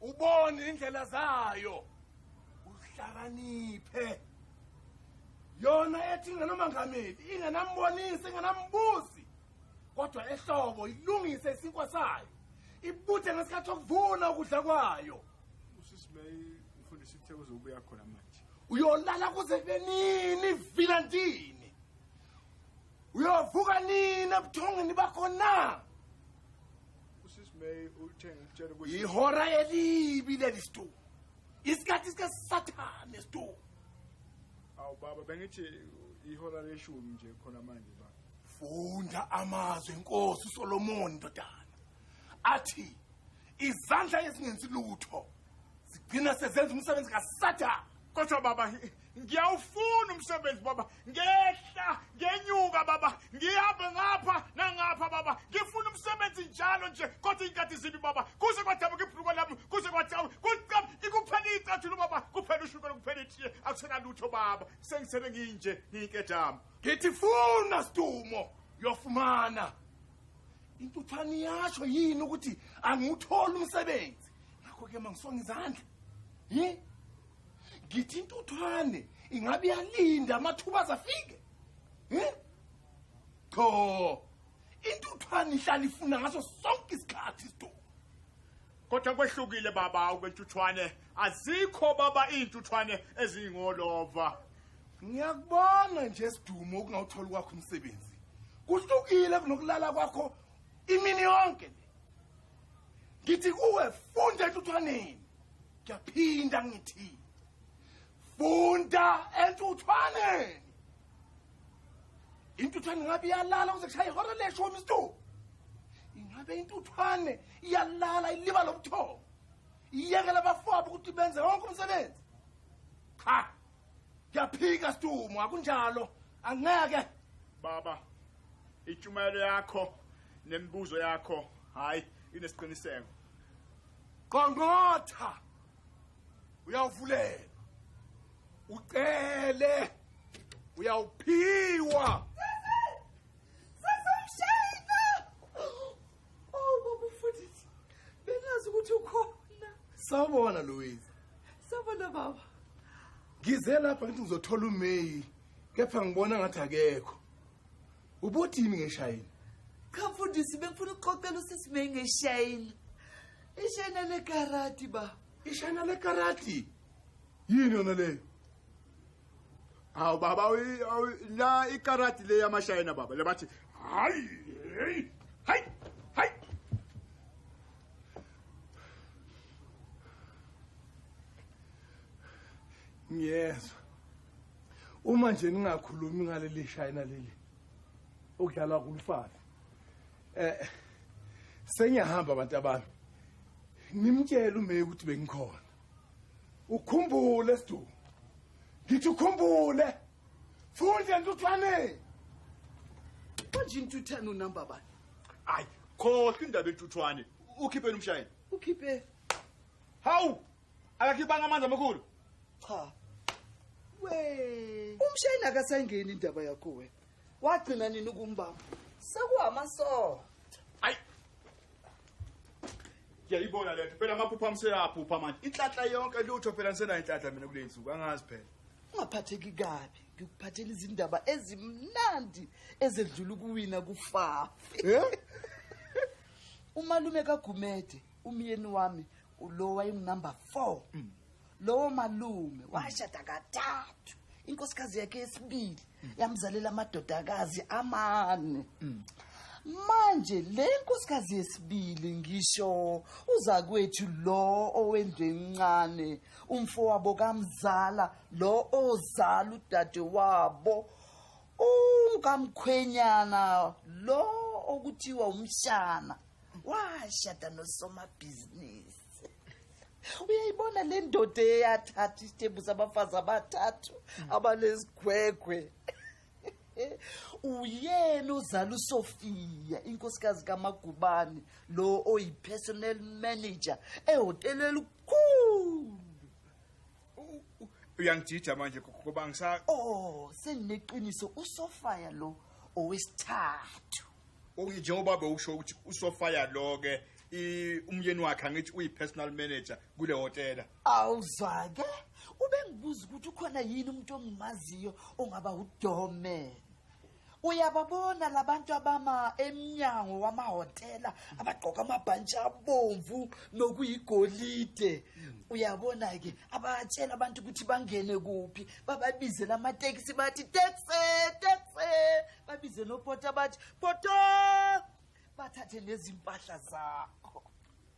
ubone indlela zayo uhlakaniphe yona ethi ingenomangameli ingenambonisi ingenambuzi kodwa ehlobo ilungise isinkwa sayo ibuthe ngesikhathi okuvuna ukudla kwayo usisimay umfundisi uthe uzobuya khona manje uyolala kuze kube nini vila ndini uyovuka nini ebuthongeni bakho na yihora elibi leli stu isikhathi sikasathane stu awu baba bengithi ihora leshumi nje khona manje ba funda amazwi enkosi usolomoni ndodana athi izandla ezingenzi lutho zigcina sezenza umsebenzi kasathane kodwa baba ngiyawufuna umsebenzi baba ngehla ngenyuka baba ngihambe ngapha nangapha baba ngifuna umsebenzi njalo nje kodwa iy'nkathi zibi baba kuze kwadabuka ibhuluko lami kuze kwadawu kucam ikuphela iy'cathulo baba kuphela ushukela kuphela itiye akusenalutho baba sengisele nginje ngiyinkedama ngithi funa sidumo uyofumana intuthwane iyasho yini ukuthi angiwutholi umsebenzi ngakho-ke mangisonga izandla yi ngithi intuthwane ingabe iyalinda amathuba azafike hmm? qho intuthwane ihlala ifuna ngaso sonke isikhathi isithuba kodwa kwehlukile baba ukwentuthwane azikho baba iy'ntuthwane eziyingolova ngiyakubona nje sidumo ukungawutholi kwakho umsebenzi kuhlukile kunokulala kwakho imini yonke le ngithi kuwe funda entuthwaneni ngiyaphinda ngithi funda entuthwaneni intuthwane ingabe iyalala kuze kushaye ihora leshumi isituku ingabe intuthwane iyalala iliba lobuthongo iyekela abafowabo ukuthi benze wonke umsebenzi cha Ngiyaphika Stumo, akunjalo. Angeke. Baba, itshumayelo yakho nemibuzo yakho hayi inesiqiniseko. Qongqotha. Uyavulelwa. Ucele. Uyawuphiwa. Oh baba mfundisi. Bengazi ukuthi ukhona. Sawubona Louise. Sawubona baba. Ngize lapha ngithi ngizothola uMay kepha ngibona ngathi akekho. Ubuthini ngeshayini? Cha mfundisi bengifuna ukuxoxela usisi May ngeshayini. Ishayina le karati ba. Ishayina le karati. Yini yona leyo? hawu baba la ikarati le yamashayina baba lebathi hayi hayi hayi hayi ngiyezwa uma nje ningakhulumi ngaleli shayina leli okudlalwa kulufana eh sengiyahamba abantu abami nimtshela umeyi ukuthi bengikhona ukhumbule sdu ngithi ukhumbule funde ntuthwane manje intuthane unumber bani hayi khohlwa indaba entuthwane ukhipheni umshayeli ukhiphe hawu akakhiphanga amanzi amakhulu cha we umshayeli akasayingeni indaba yakho wena wagcina nini ukumbamba sekuwamasondo ayi ngiyayibona lento phela amaphupha amseyaphupha manje inhlanhla yonke lutho phela ngisenayo inhlanhla mina kule nsuku angazi phela ungaphatheki kabi ngikuphathela izindaba ezimnandi ezedlula ukuwina kufafi Eh? umalume kagumede umyeni wami ulo wayengunumber four lowo malume washada kathathu inkosikazi yakhe yesibili yamzalela amadodakazi amane manje le nkosikazi yesibili ngisho uzakwethu lo owendlu encane umfowabo kamzala lo ozala udade wabo ungamkhwenyana lo okuthiwa umshana washada nosomabhizinisi uyayibona le ndoda eyathatha isitembu sabafazi abathathu abanezigwegwe uyena uzala uSofia inkosikazi kaMagubane lo oyipersonal manager ehotela elikhulu uyangijija manje ngoba ngisa oh sengineqiniso uSofia lo owesithathu Okay njengoba bewusho ukuthi usofaya lo ke i- umyeni wakhe angithi uyi-personal manager kule hotela awuzake ubengibuza ukuthi ukhona yini umuntu ongimaziyo ongaba udome uyababona labantu abama emnyango wamahhotela abagqoka amabhantshi abomvu nokuyigolide uyabona-ke abatshela abantu ukuthi bangene kuphi bababizela amatekisi bathi tekse tekse babize nopota bathi poto bathathe nezimpahla zakho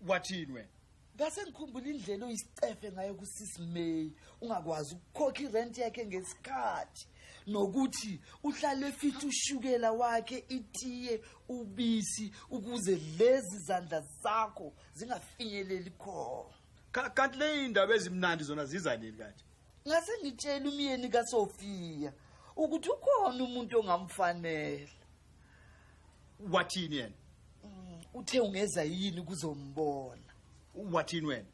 wathini wena ngase ngikhumbula indlela oyisicefe ngayo kusisimay ungakwazi ukukhokha irenti yakhe ngesikhathi nokuthi uhlale fithi ushukela wakhe itiye ubisi ukuze lezi zandla zakho zingafinyeleli khona kanti leyindaba ezimnandi zona ziza nini kanti ngase ngitshela umyeni kasofiya ukuthi ukhona umuntu ongamfanele wathini yena mm, uthe ungeza yini kuzombona wathini wena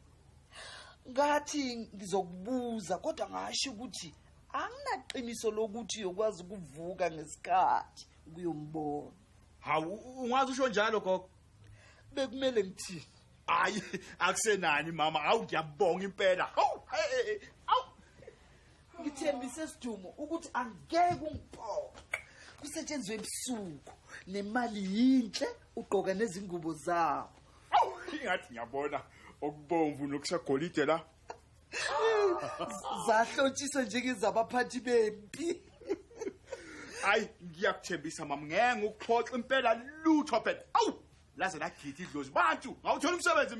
ngathi ngizokubuza kodwa ngasho ukuthi anginaqiniso lokuthi uyokwazi ukuvuka ngesikhathi ukuyombona hawu ungazi usho njalo gogo bekumele ngithini hayi akusenani mama hawu ngiyabonga impela hawu hawu ngithembise sidumo ukuthi angeke ungiphoxe kusetshenzwe ebusuku nemali yinhle ugqoka nezingubo zawo ingathi ngiyabona okubomvu nokusagolide la zahlotshisa njengezabaphathi bempi hayi ngiyakuthembisa mama ngenge ukuxoxa impela lutho phela awu laze lagidi idlozi bantu ngawuthola umsebenzi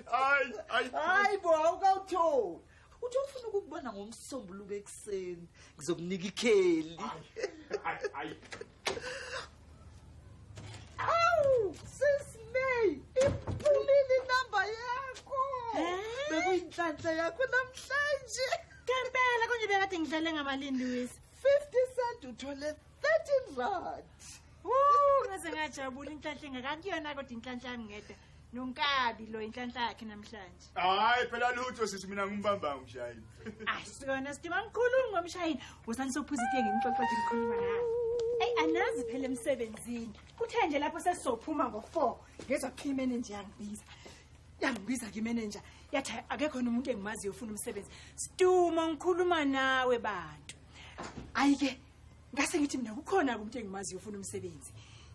hayi hayi hayi bo awukawutholi uthi ufuna ukukubona ngomsombuluko ekuseni ngizokunika ikheli inhlanhla yakho namhlanje ngempela konje bekade ngidlale ngamalini lewis 50 cent uthole 13 rand ngaze ngajabula inhlanhla engakakuyona kodwa inhlanhla yami ngedwa nonkabi lo inhlanhla yakhe namhlanje hayi phela lutho sisi mina ngimbamba umshayini asikona sidima mkhulu ngomshayini wosani sophuza itiye ngimxoxo nje ngikhuluma naye eyi anazi phela emsebenzini kuthe nje lapho sesizophuma ngo-four ngezwa kuthiwa imenenja yangibiza yangibiza ke imenenja yathi akekhona umuntu engimaziyo ufuna umsebenzi stumo ngikhuluma nawe bantu ayi-ke ngase ngithi mina kukhona-ke umuntu engimaziyo ufuna umsebenzi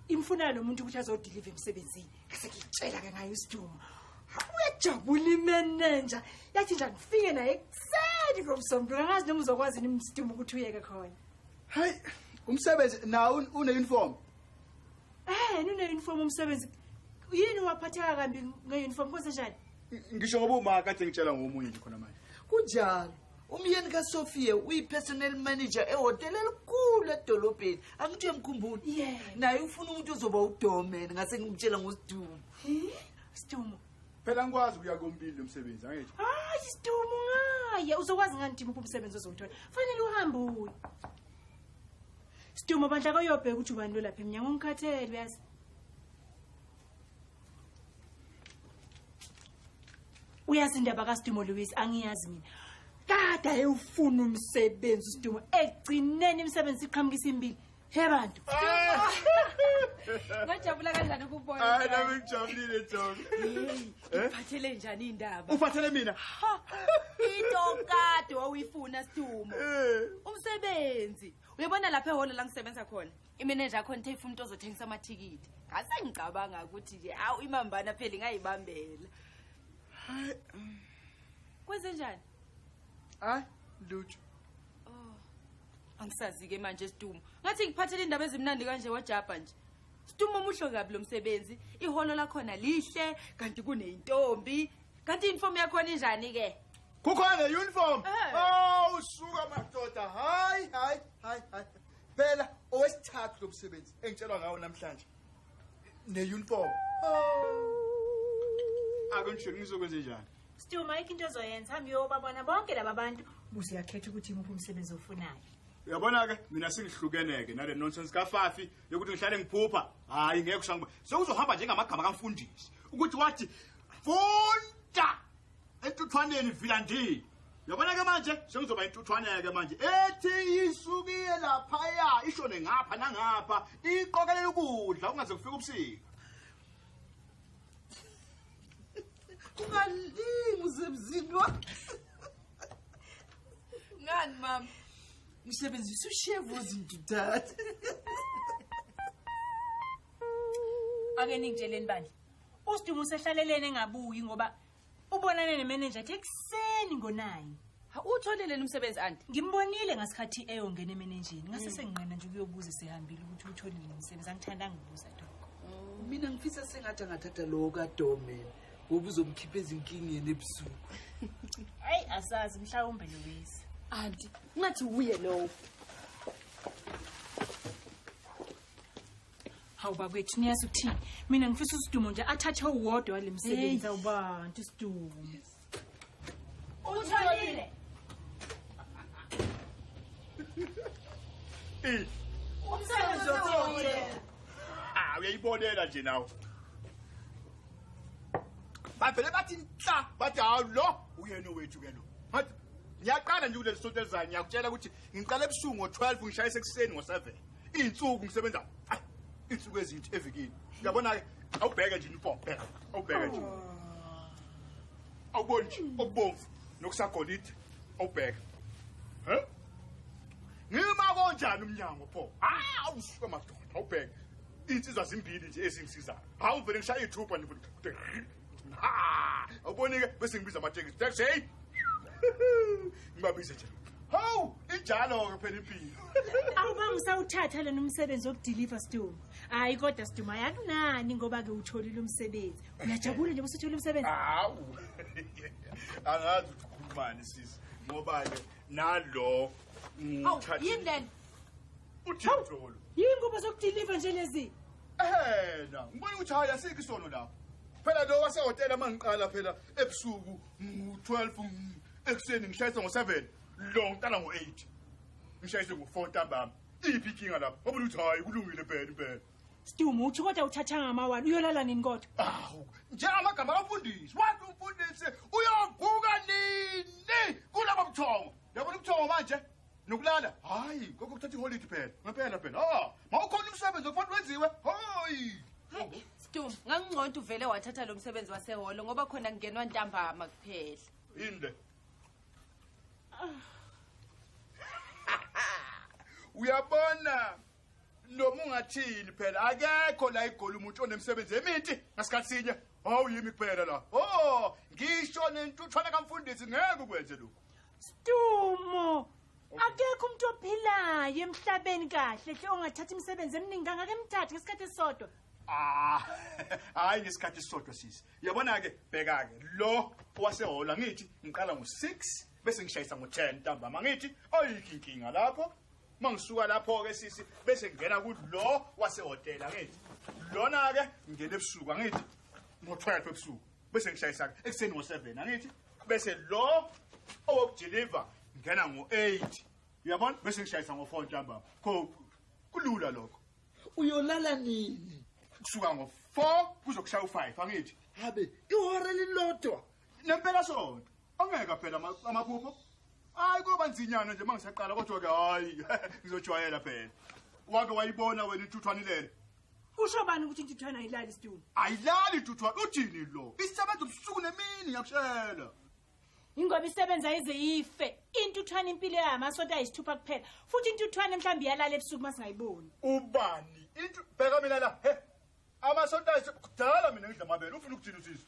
imfunana lo muntu ukuthi azodiliva emsebenzini ngase ngiyitshela-ke ngayo isidumo uyajabula imenenja yathi nje angifike naye ekuseni ngomsombulu angazi noma uzokwazi yini msidumo ukuthi uyeke khona hayi umsebenzi nawo une-uniform ehn une-uniform umsebenzi yini waphatheka kambi nge-uniform kwenze njani ngisho ngoba uma kade ngitshela ngomunye nje khona manje kunjalo umyeni kasophia uyi-personal manager ehhotela elikhulu edolobheni angithi uyamkhumbula Yeah. naye ufuna umuntu ozoba udomen ngase ngimtshela ngosidumo Sidumo. phela ngikwazi ukuya kombili lo msebenzi angethi Hayi Sidumo ngaye uzokwazi ngani Dimo kumsebenzi ozowuthola. Fanele uhambe uye. Sidumo bandla koyobheka ukuthi ubani lo lapha emnyango ngikhathele uyazi. uyazi indaba kaSdumo Louis angiyazi mina kade ayewufuna umsebenzi uSdumo egcineni imisebenzi iqhamukisa impilo he bantu ngajabula kanjani ukubona hayi nami ngijabulile John eh? uphathele njani indaba uphathele mina into kade wawuyifuna Sdumo eh. umsebenzi uyabona lapha ehholo la ngisebenza khona imenenja yakho nithe ifuna umuntu ozothengisa amathikithi ngasengicabanga ukuthi nje awu imambana phela ingayibambela hayi um. kwenze njani hayi lutho oh angisazi-ke manje isitumo ngathi ngiphathele indaba ezimnandi kanje wajabha nje situmo omuhle kabi lo msebenzi iholo lakhona lihle kanti kuneyintombi kanti iyunifomu yakhona injani-ke kukhona ne-uniform eh. awu oh, suka madoda hayi hayi hayi hayi phela owesithathu lo msebenzi engitshelwa ngawo namhlanje ne-uniform akunjeni ngizokwenze njani still mike into ezoyenza hambe uyobabona bonke laba bantu buze uyakhetha ukuthi imuphi umsebenzi ofunayo uyabona-ke mina sengihlukene-ke nale nonsense kafafi yokuthi ngihlale ngiphupha hhayi ngeke kushangoba sewuzohamba njengamagama kamfundisi ukuthi wathi funda entuthwaneni vila ndini yabona ke manje sengizoba intuthwaneke manje ethi isukiye laphaya ishone ngapha nangapha iqokelela ukudla kungaze kufike ubusika ungalimi usemzini wakho ngani mama ngisebenzisa ushevu ozinto dade ake ningitsheleni bandla Usdumo usehlaleleni engabuyi ngoba ubonane nemenenja ethi ekuseni ngonayi. Uwutholile yini umsebenzi anti? Ngimbonile ngasikhathi eyongena emenenjini. Ngase Mm. senginqena nje ukuyobuza sehambile ukuthi utholile yini umsebenzi. Angithandanga ukubuza lokho. mina ngifisa sengathi angathatha lowo kadome ngoba uzomkhipha ezinkingeni ebusuku Hayi asazi mhlawumbe Louise. Anti, ngathi uye lowo. hawu bakwethu niyazi ukuthini mina ngifisa usidumo nje athathe uwodwa wale msebenzi awubantu isidumo utholile umsebenzi otholile ah uyayibonela nje nawe bavele bathi nhla bathi hawu lo uyena owethu ke lo ngiyaqala nje kuleli sonto elizayo ngiyakutshela ukuthi ngiqala ebusuku ngo-12 ngishayisa ekuseni ngo-7 Izinsuku ngisebenza. Ay, izinsuku ezinthi evikini. Uyabona ke awubheke nje uniform phela. Awubheke nje. Awuboni nje okubomvu nokusagolide. Awubheke. Huh? Ngima konjani umnyango pho? Ah, awusuka madoda. Awubheke. Insizwa zimbili nje ezingisizayo. Hawu vele ngishaya ithupha nje. awubonike bese ngibiza amatekisi taxi hey ngibabize nje hawu injalo-ke phela impilo awubanga usawuthatha lona umsebenzi wokudiliva sidumo hhayi kodwa sidumo ayakunani ngoba-ke uwutholile umsebenzi uyajabula nje busuthola umsebenzi hawu angazi ukhulumani sisi ngoba-ke nalo yini lena uthintolo yingubo zokudiliva nje lezi ehena ngibona ukuthi hayi asikho isono lapho phela lo wasehotela uma ngiqala phela ebusuku ngo-12 ekuseni ngishayisa ngo-7 lo ngiqala ngo-8 ngishayise ngo-4 ntambama iphi ikinga lapho ngoba ukuthi hayi kulungile bhela impela Sidumo uthi kodwa uthatha ngamawani uyolala nini kodwa? Awu, njengamagama abafundisi, wathi umfundisi uyovuka nini kulabo buthongo? Yabona ubuthongo manje? nokulala hayi koko kuthatha iholidi phela ngempela phela ha ah, mawukhona umsebenzi okufanele wenziwe hayi stum ngangingconto uvele wathatha lo msebenzi waseholo ngoba khona kungenwa ntambama kuphela yini le uyabona noma ungathini phela akekho la igoli umuntu onemsebenzi eminti ngasikhathi sinye hawu yimi kuphela la o oh, ngisho nentuthwana kamfundisi ngeke ukwenze lokhu Stumo. Akekho umuntu ophilayo emhlabeni kahle hle ongathatha imisebenzi eminingi kangaka emthathe ngesikhathi esisodwa. Ah, hayi ngesikhathi sisodwa sisi. Yabona ke, bheka ke. Lo wasehola ngithi ngiqala ngo6 bese ngishayisa ngo10 ntambama ngithi ayinkinga lapho. Mangisuka lapho ke sisi bese ngena kulo wasehotela ngithi. Lona ke ngene ebusuku ngithi ngo12 ebusuku. bese ngishayisa ekuseni ngo-seven angithi bese lo owokudiliva ngena ngo-eight uyabona bese ngishayisa ngo-four ntambama kho kulula lokho uyolala nini kusuka ngo-four kuzokushaya u-five angithi habe ihora lilodwa nempela sonto ongeka phela amaphupho hayi koba nzinyana nje uma ngisaqala kodwa-ke hhayi ngizojwayela phela wake wayibona wena inthuthwanilele Usho bani ukuthi intuthwane ayilali isitulo? Ayilali intuthwane uthini lo? Isebenza ubusuku nemini ngiyakushela. Ingoba isebenza ize ife. Intuthwane impilo yayo amasonto ayisithupha kuphela. Futhi intuthwane mhlawumbe iyalala ebusuku masingayiboni. Ubani? Intu bheka mina la. He. Amasonto ayisithupha mina ngidla amabele. Ufuna ukuthini usisi?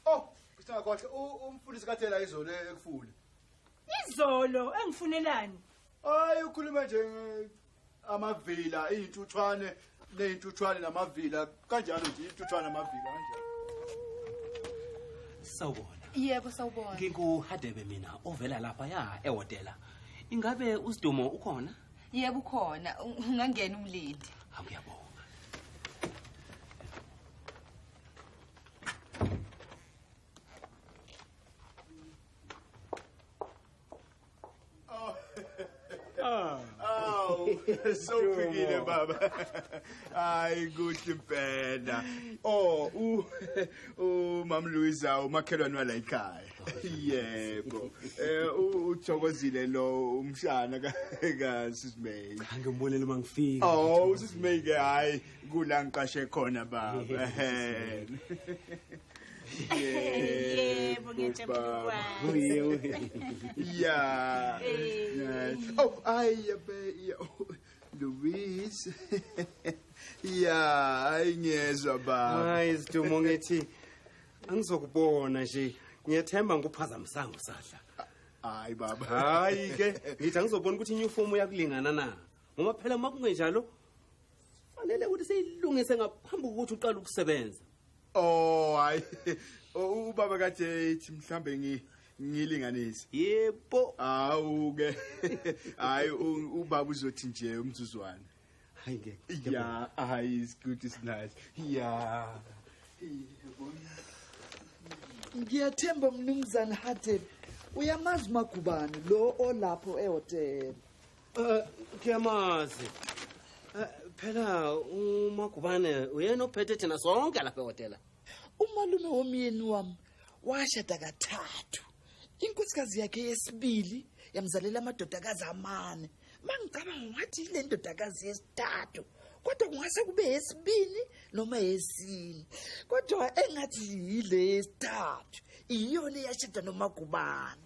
Oh, isingakhohle umfundisi kathela izolo ekufule. Izolo engifunelani? Hayi ukhuluma nje amavila izintuthwane nezintuthwane namavila kanjalo nje intuthwane namavila kanjalo. Sawubona. Yebo sawubona. Nginguhadebe mina ovela lapha ya ehotela. Ingabe usidumo ukhona? Yebo ukhona. Ungangena umlindi. Angiyabona. Aw, sewuphikile baba. Hayi kuhle impela. Oh, u uMam Luisa umakhelwane wala ekhaya. Yebo. Eh uthokozile lo umshana ka ka Sis May. Angibonele uma ngifika. Oh, Sis May ke hayi kula ngiqashe khona baba. yebo ngiyajabula yeah oh ay yabe Louise yeah ay ngiyezwa baba ay sidumo ngithi angizokubona nje ngiyethemba ngikuphazamisango sadla hayi baba hayi ke ngithi angizobona ukuthi inyufomu yakulingana na ngoba phela uma kungenjalo Fanele ukuthi siyilungise ngaphambi kokuthi uqale ukusebenza. Oh hayi ubaba ka JH mhlambe ngi ngilinganise. Yebo. Awu ke. Hayi ubaba uzothi nje umzuzwana. Hayi ngeke. Yeah, hayi is good is nice. Yeah. Yabona. Ngiyathemba mnumzane Hathe. Uyamazi magubani lo olapho ehotela. Eh, kuyamazi eh, phela umagubane uyena ophethe thina sonke lapha ehhotela umalume womyeni wami washada kathathu inkosikazi yakhe yesibili yamzalela amadodakazi amane mangicabanga ngathi yile ndodakazi yesithathu kodwa kungase kube yesibini noma yesine kodwa engathi yile yesithathu iyona eyashada nomagubane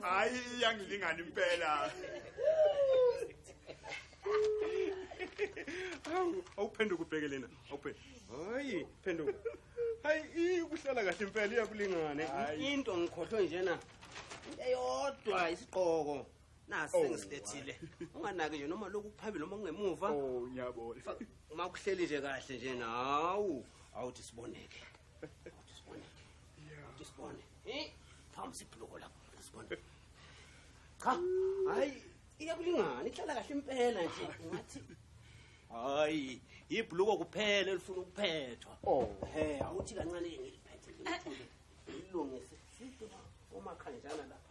hayi iyangilingana impela awuphenduka ubheke lena awuphe hayi phenduka hayi ikuhlala kahle impela iyakulingane into ngikhohlwe njena into eyodwa isigqoko nasi Oh, sengisilethile unganaki nje noma lokhu kuphambili noma kungemuva Oh, ngiyabona. Fa- uma kuhleli nje kahle nje nawu awuthi siboneke awuthi siboneke awuthi sibone Eh, phambi sibhuluko lapho awuthi sibone cha hayi iyakulingana ihlala kahle impela nje ngathi hayi ibhuluko kuphela elifuna ukuphethwa oh he awuthi kancane ngiliphethe ngilithule ngilungise umakhanjana lapha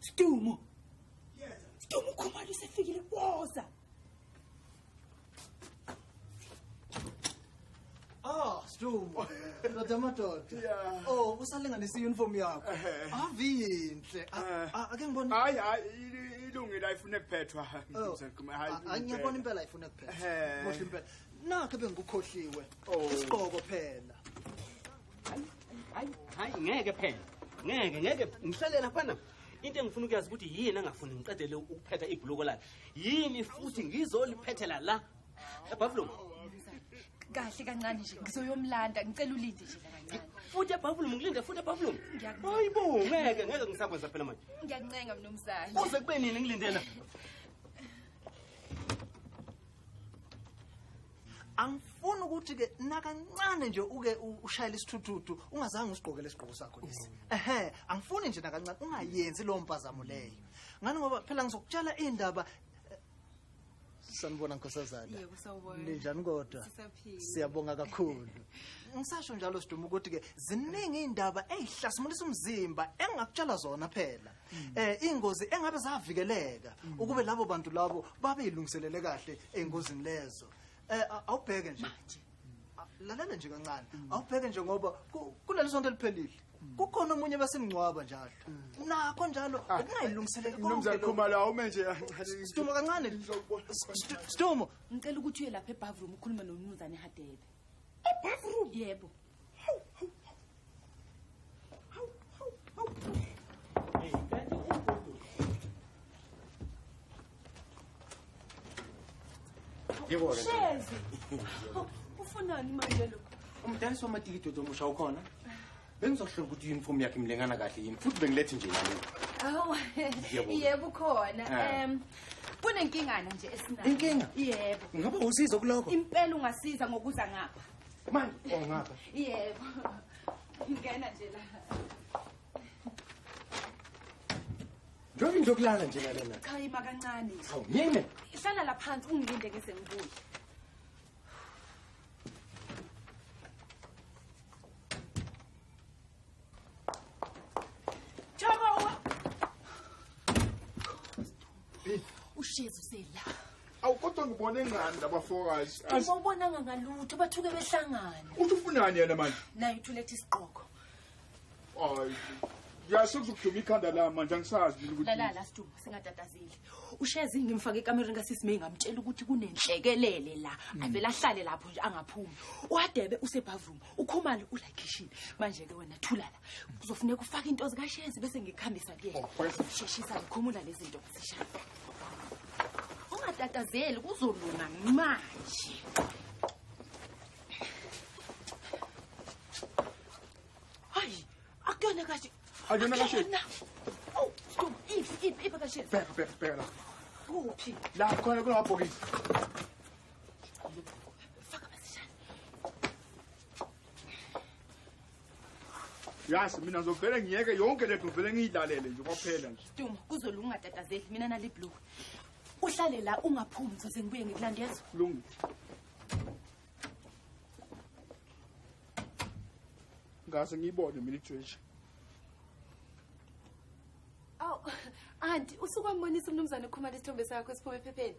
Stumo. Yes. Stumo khumalo sefikile woza. Ah, Stumo. Ndoda madoda. Yeah. Oh, usalinganisa i-uniform yakho. Avinhle. Ake ngibone. Hayi hayi ilungile ayifune kuphethwa. Oh. Angiyabona impela ayifune kuphethwa. Kuhle impela. Nakhe bengikukhohliwe. Oh. Isigqoko phela. hayi ngeke phela ngeke ngeke ngihlalela fana into engifuna ukuyazi ukuthi yini angafuni ngiqedele ukuphetha ibhuluko lakhe yini futhi ngizoliphethela la ebhavulum kahle kancane nje ngizoyomlanda ngicela ulinde nje kancane futhi ebhavulum ngilinde futhi ebhavulum hayi bo ngeke ngeke ngisakwenza phela manje ngiyakuncenga mnumzane kuze kube nini ngilindela angifuni ukuthi ke nakancane nje uke ushayele isithuthuthu ungazange usigqokele isigqoko sakho lesi mm. ehe angifuni nje nakancane ungayenzi lowo mpazamo leyo ngani ngoba phela ngizokutshela indaba eh, sanibona nkosazana ninjani kodwa siyabonga kakhulu ngisasho njalo siduma ukuthi ke ziningi indaba ezihlasimulisa umzimba engakutshela zona phela eh ingozi engabe zavikeleka ukube labo bantu labo babe ilungiselele kahle engozini lezo eh a- awubheke nje A- lalela nje kancane awubheke nje ngoba ku- kuleli sonto eliphelile kukhona omunye basemngcwaba njalo nakho njalo ukungayilungiseleli konke Mnumzane lokhu. Khumalo awume nje. Sidumo kancane. Sidumo. Ngicela ukuthi uye lapha ebathroom ukhulume nomnumzane Hadebe. Ebathroom? Yebo. Yebo-ke. Shezi. Ufunani manje lo? Umdayisi wamatikiti odomusha ukhona? Bengizohlola ukuthi uniform yakhe imlengana kahle yini futhi bengilethi nje nami. Awu. Yebo. Yebo ukhona. Ah. Em kunenkingana nje esinayo. Inkinga? Yebo. Ngaba usizo kuloko? Impela ungasiza ngokuza ngapha. manje ongapha oh, yebo ngena nje la njengoba into yokulala nje nalena cha ima kancane nje awu yini hlala la phansi ungilinde ngise ngibuye ushezi usela awu kodwa ngibone ngani labafokazi ubonanga ngalutho bathuke behlangana uthi ufunani yena manje naye uthulethe isiqoko ayi yazi sekuzokuduma ikhanda la manje angisazi mina ukuthi lalala siduma singatatazeli ushezi ngimfake ekamereni kasisi may ngamtshela ukuthi kunenhlekelele la mm. avele ahlale lapho nje angaphumi uadebe usebavuma ukhumalo ula kitchen manje ke wena thulala kuzofuneka ufake into zikashezi bese ngikuhambisa kuyena oh, sheshisa ngikhumula lezinto zishaya ungatatazeli kuzolunga manje hayi akuyona kahle akuyona kahle Oh, stop. Iphi, iphi, iphi kahle. Bheka, bheka, bheka la. Kuphi? La khona kunabhokisi. yazi mina ngizovele ngiyeke yonke le nto ngivele ngiyidlalele nje kwaphela nje duma kuzolunga ungatatazeli mina nale blue uhlale la ungaphumi ngizoze ngibuye ngikulandezwa lungu ngaze ngiyibone mina ijeje awu anti usukwambonisa umnumzane ukhumala isithombe sakho esiphume ephepheni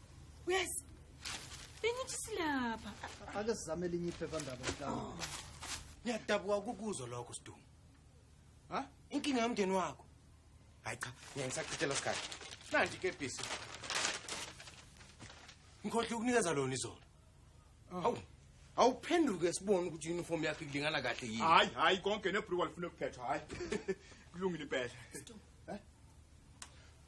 Yes. Bengithi silapha. Ake sizame elinye iphephandaba mhlawumbe. Oh. Ngiyadabuka ukukuzwa lokho Sdumo. Ha? Inkinga yomndeni wakho. Hayi cha, mina ngisachithela isikhathi. Nanti ke bisi. Ngikhohle ukunikeza lona izolo. Oh. Hawu. Awuphenduke sibone ukuthi uniform yakhe kulingana kahle yini. Hayi, hayi konke nebruwa lifuna ukuphethwa, hayi. Kulungile impela. Sdumo.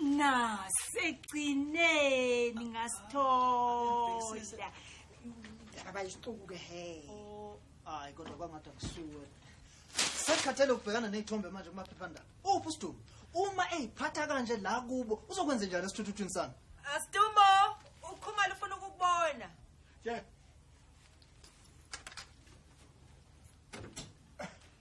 na segcineni ngasithola abayisicuku ke he hayi kodwa kwangathi akusuwe sekhathele ukubhekana ney'thombe manje kumaphephandaba uphi usidumo uma eyiphatha kanje la kubo uzokwenze njani esithuthuthwini sami asidumo ukhumalo ufuna ukukubona yeah.